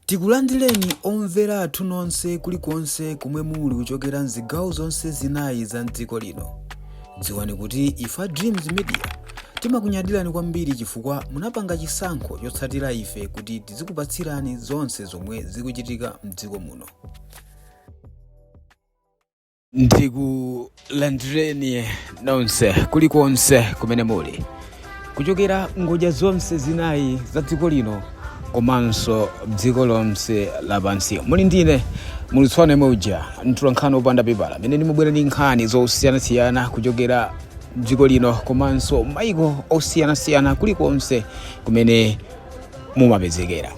Tikulandileni omvera athu nonse kuli konse komwe muli kuchokera mzigawo zonse zinayi za mdziko lino. Dziwani kuti ife a Dreams Media timakunyadilani kwambiri chifukwa munapanga chisankho chotsatira ife kuti tizikupatsirani zonse zomwe zikuchitika mdziko muno. ndikulandireni nonse kulikonse kumene muli kuchokera ngodya zonse zinayi za dziko lino komanso dziko lonse lapansi muno ndine mulitswana moja mtolankhani opanda pepala amene ndimabwera ndi nkhani zosiyanasiyana kuchokera mdziko lino komanso maiko osiyanasiyana kulikonse kumene mumapezekera.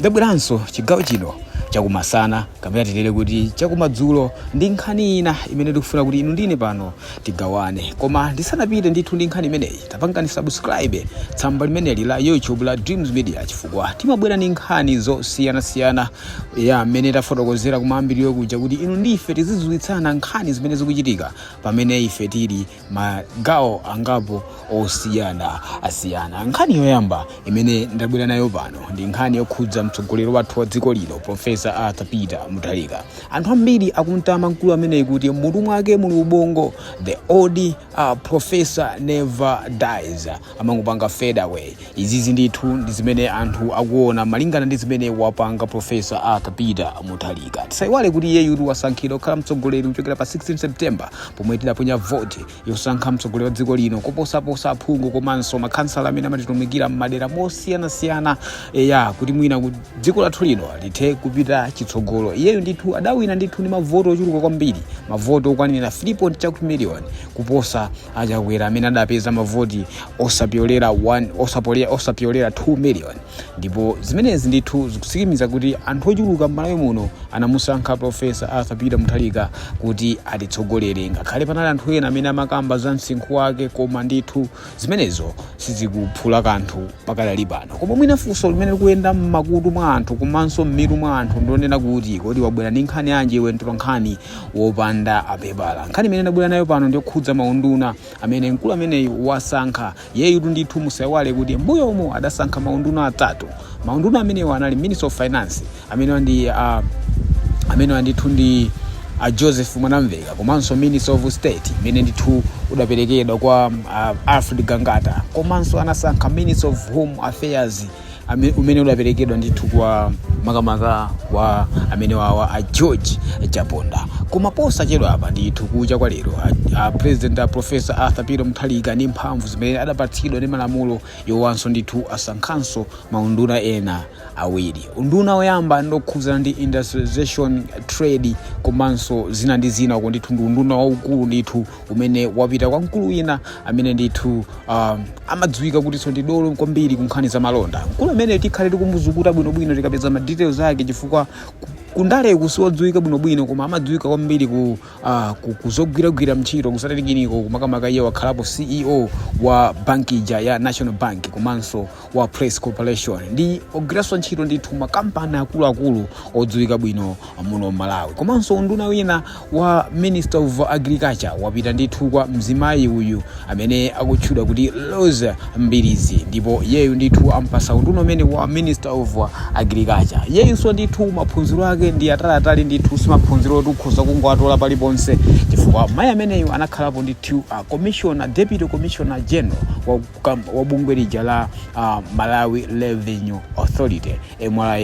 Ndabweranso chigawo chino chakumasana kapena tinene kuti chakumadzulo ndi nkhani ina imene ndikufuna kuti inu ndine pano tigawane koma ndisanapite ndithu ndi nkhani imeneyi tapangani subscribe tsamba limeneli la youtube la dreams media chifukwa timabwera ndi nkhani zosiyanasiyana nga mmene tafotokozera kumayambiriro kuja kuti inu ndife tizidziwitsana nkhani zimene zikuchitika pamene ife tili magawo angapo osiyana asiyana nkhani yoyamba imene ndabwera nayo pano ndi nkhani yokhudza mtsogoleri wathu wa dziko lino profesa arthur peter mutharika anthu ambiri akumtama mkulu ameneyi kuti mutu mwake muli ubongo the old uh, professor never dies amangopanga fade away. Izizi ndithu ndi zimene anthu akuona malingana ndi zimene wapanga Professor Arthur Peter Mutharika. Tisaiwale kuti iyeyu tidamusankha kukhala mtsogoleri kuchokera pa 16 September pomwe tidaponya vote yosankha mtsogoleri wa dziko lino koposaposa aphungu komanso makhansala amene amatitumikira m'madera mosiyanasiyana eya kuti mwina dziko lathu lino lithe kupita chitsogolo. Iyeyu ndithu adawina ndithu ndi mavoto ochuluka kwambiri, mavoto okwanira 3 point chakuti million kuposa a Chakwera amene adapeza mavoti osapyolera 1 osapole- osapyolera 2 million ndipo zimenezi ndithu zikutsimikiza kuti anthu ochuluka m'malawi muno anamusankha profesa arthur peter mutharika kuti atitsogolere ngakhale panali anthu ena amene amakamba za msinkhu wake koma ndithu zimenezo sizikuphula kanthu pakadali pano koma mwina funso limene likuyenda m'makutu mwa anthu komanso m'mitu mwa anthu ndi lonena kuti kodi wabwera ndi nkhani yanji iwe mtolankhani wopanda pepala nkhani imene ndabwera nayo pano ndiyokhudza maunduna amene mkulu ameneyu wasankha iyeyutu ndithu musaiwale kuti mbuyo umo adasankha maunduna atatu maunduna amenewo anali minister of finance amenewa ndi uh, amenewa ndithu ndi a joseph mwanamveka komanso minister of state imene ndithu udaperekedwa kwa uh, alfred gangata komanso anasankha minister of home affairs ame- umene udaperekedwa ndithu kwa makamaka kwa amene wawa a george chaponda koma posachedwa apa ndithu kucha kwa lero a, a president a profesa arthur peter muthalika ndi mphamvu zimene adapatsidwa ndi malamulo yowanso ndithu asankhanso maunduna ena awiri unduna woyamba ndi wokhudzana ndi industrialization trade komanso zina ndi zina uko ndithu ndi unduna waukulu ndithu umene wapita kwa mkulu wina amene ndithu um, amadziwika kutinso ndi dolo kwambiri ku nkhani za malonda mkulu amene tikhale tikumuzukuta bwinobwino tikapeza ma details ake chifukwa ku- kundale siwodziwika bwinobwino koma amadziwika kwambiri ku, uh, ku, kuzogwiragwira ntchito kusatalikirako kumakamaka iyeyo wakhalapo ceo wa banki ija ya national bank komanso wa press corporation ndi ogwiranso ntchito ndithu makampani akuluakulu odziwika bwino muno malawi komanso unduna wina wa minister of agriculture wapita ndithu kwa mzimayi uyu amene akutchedwa kuti roza mbilizi ndipo iyeyu ndithu ampasa unduna umene wa minister of agriculture iyeyunso ndithu maphunziro ake ndi ataliatali ndithu simaphunziro oti ukhoza kungowatola paliponse chifukwa mayi ameneyu anakhalapo ndithu uh, commissioner deputy commissioner general wa kukamba wa bungwe lija la uh, malawi revenue authority mra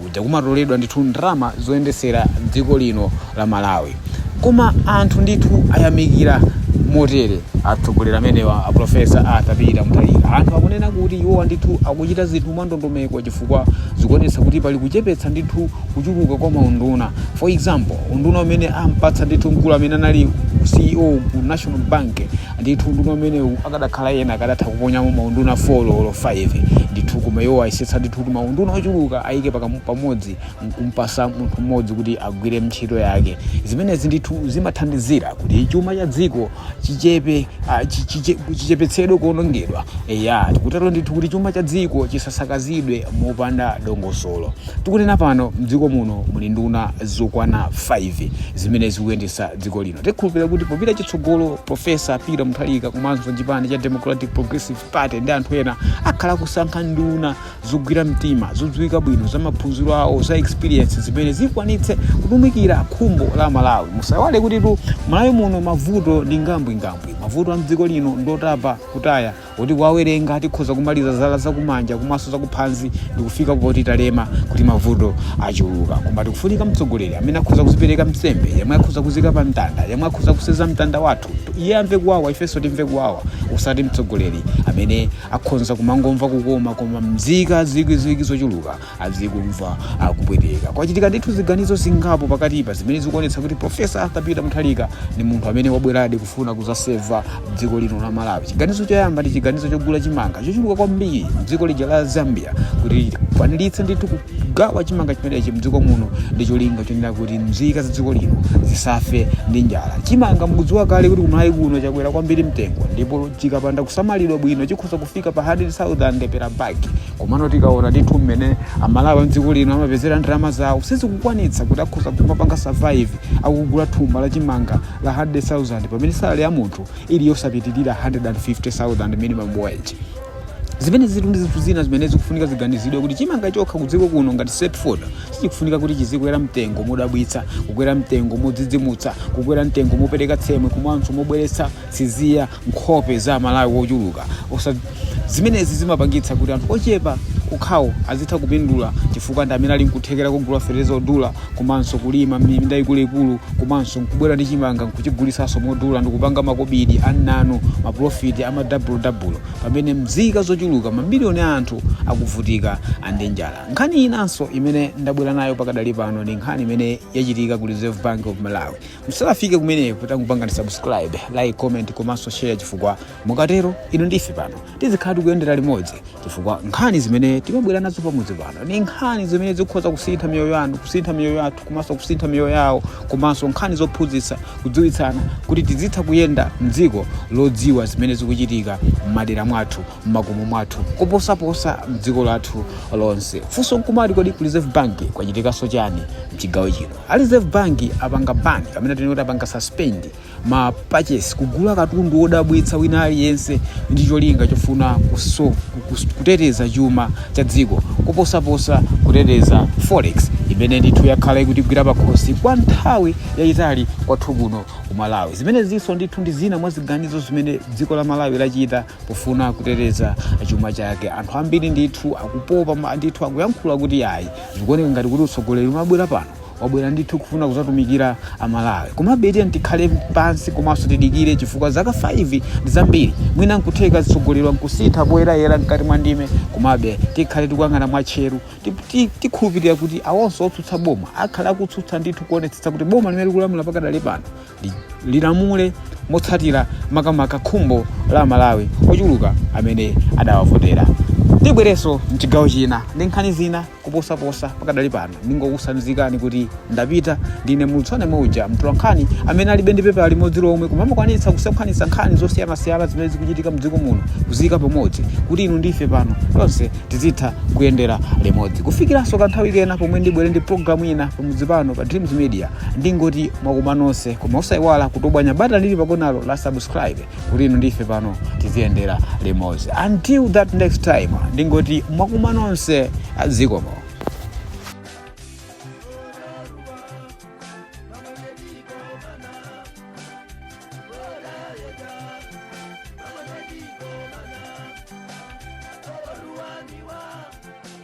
kuja kumatoledwa ndithu ndalama zoyendetsera dziko lino la malawi koma anthu ndithu ayamikira motere atsogoleri amenewa a profesa arthur peter muthalika anthu akunena kuti iwowa ndithu akuchita zinthu mwandondomeko chifukwa zikuonetsa kuti pali kuchepetsa ndithu kuchuluka kwa maunduna for example unduna umene ampatsa ndithu mkulu amene anali ceo ku national bank Ndithu unduna umenewu akadakhala ena akadatha kuponyamo maunduna 4 olo 5. Ndithu koma iwo ayesetsa ndithu kuti maunduna ochuluka ayike pakamu pamodzi nkumpasa munthu mmodzi kuti agwire ntchito yake. Zimenezi ndithu zimathandizira kuti chuma cha dziko chichepe ah, chi- chiche- chichepetsedwe kuonongedwa. Eya, tikutero ndithu kuti chuma cha dziko chisasakazidwe mopanda dongosolo. Tikunena pano mdziko muno muli nduna zokwana 5 zimene zikuyendetsa dziko lino. Tikhulupirira kuti popita chitsogolo profesa peter muthalika komanso chipani cha democratic progressive party ndi anthu ena akhala kusankha nduna zogwira mtima zodziwika bwino za maphunziro awo za experience zimene zikwanitse kutumikira khumbo la malawi musaiwale kutitu malawi muno mavuto ndi ngambwingambwi mavuto a mdziko lino ndotapa kutaya Koti kuwawerenga tikhoza kumaliza zala zakumanja komanso zakuphanzi ndikufika poti talema kuti mavuto achuluka. Koma tikufunika mtsogoleri amene akhoza kuzipereka nsembe, yemwe akhoza kuzika pa mtanda, yemwe akhoza kuseza mtanda wathu. Iye amve kuwawa ifenso timve kuwawa. Osati mtsogoleri amene akhonza kumangomva kukoma koma mzika zikwi zikwi zochuluka azikumva akupweteka. Kwachitika ndithu ziganizo zingapo pakatipa zimene zikuonetsa kuti Professor Arthur Peter Mutharika ndi munthu amene wabweradi kufuna kuzaseva dziko lino la Malawi. Chiganizo choyamba ndi chiganizo chogula chimanga chochuluka kwambiri mdziko lija la Zambia kuti akwaniritse ndithu kugawa chimanga chimenechi mdziko muno ndi cholinga chonena kuti mzika za dziko lino zisafe ndi njala. Chimanga mukudziwa kale kuti kumalawi kuno chakwera kwambiri mtengo ndipo chikapanda kusamalidwa bwino chikhoza kufika pa 100,000 per bag. komano tikaona ndithu mmene amalawi amdziko lino amapezera ndalama zawo sizikukwanitsa kuti akhoza kumapanga survive akugula thumba la chimanga la 100000 pamene salale ya munthu ili yosapitirira 150000 minimum wage zimene ziri ndi zinthu zina zimene zikufunika ziganizidwe kuti chimanga chokha kudziko kuno ngati staple food sichikufunika kuti chizikwera mtengo modabwitsa kukwera mtengo modzidzimutsa kukwera mtengo mopereka tsemwe komanso mobweretsa tsinya pankhope za amalawi wochuluka zimenezi zimapangitsa kuti anthu ochepa okhawo azitha kupindula chifukwa ndi amene ali nkuthekera kogula fetereza odula komanso kulima minda ikuluikulu komanso nkubwera ndi chimanga nkuchigulisanso modula ndikupanga makobidi annanu mapulofiti amadabulodabbulo pamene mzika zochuluka mamiliyoni a anthu akuvutika ndi njala nkhani inanso imene ndabwera nayo pakadali pano ndi nkhani imene yachitika ku reserve bank of malawi musanafike kumeneko tangopangani subscribe like comment komanso share chifukwa mukatero inu ndi ife pano tizikhala tikuyendera limodzi chifukwa nkhani zimene timabwera nazo pamudzi pano ni nkhani zimene zikhoza kusintha miyoyo yanu kusintha miyoyo yathu komanso kusintha miyoyo yawo komanso nkhani zophunzitsa kudziwitsana kuti tizitha kuyenda mdziko lodziwa zimene zikuchitika m'madera mwathu m'makomo mwathu koposaposa mdziko lathu lonse funso nkumati kodi ku reserve bank kwachitikanso chani mchigawo chino a reserve bank apanga ban kapena tinene kuti apanga suspend ma purchase kugula katundu wodabwitsa wina aliyense ndi cholinga chofuna kuteteza chuma cha dziko koposaposa kuteteza forex imene ndithu yakhala ikutigwira pakhosi kwa nthawi yayitali kwathu kuno ku malawi zimenezinso ndithu ndi zina mwa ziganizo zimene dziko la malawi lachita pofuna kuteteza chuma chake anthu ambiri ndithu akupopa ndithu akuyankhula kuti ayi zikuoneka ngati kuti utsogoleri umene wabwera pano wabwera ndithu kufuna kuzatumikira amalawi komabe tiyeni tikhale pansi komanso tidikire chifukwa zaka 5 ndi zambiri mwina nkutheka atsogoleriwa nkusintha poyendayenda mkati mwa ndime komabe tikhale tikuyang'ana mwatcheru tikhulupirira kuti awonso otsutsa boma akhale akutsutsa ndithu kuonetsetsa kuti boma limene likulamula pakadali pano lilamule motsatira makamaka khumbo la Amalawi ochuluka amene adawavotera. Ndibwerenso m'chigawo china ndi nkhani zina kuposaposa pakadali pano. Ndingokutsanzikani kuti ndapita ndine Mulutso Anema uja, mtolankhani amene alibe ndi pepala limodzi lomwe koma amakwanitsa kusakaniza nkhani zosiyanasiyana zimene zikuchitika m'dziko muno kuziika pamodzi kuti inu ndi ife pano tonse tizitha kuyendera limodzi. Kufikiranso kanthawi kena pomwe ndibwere ndi pulogalamu ina pamudzi pano pa Dreams Media. ndingoti mwakoma nonse koma osaiwala kutobwanya batani lili pakonalo la subscribe kuti inu ndi ife pano tiziyendera limodzi until that next time ndingoti mwakoma nonse zikomo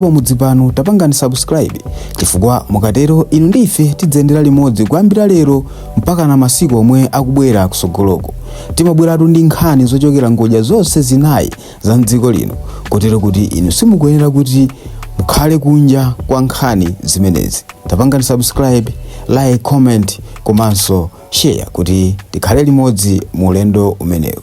pamudzi pano tapangani subscribe chifukwa mukatero inu ndi ife tidzayendera limodzi kuyambira lero mpakana masiku omwe akubwera kusogoloko timabweratu ndi nkhani zochokera ngodya zonse zinayi za mdziko lino kotero kuti inu simukuyenera kuti mukhale kunja kwa nkhani zimenezi tapangani subscribe like comment komanso share kuti tikhale limodzi mu ulendo umenewu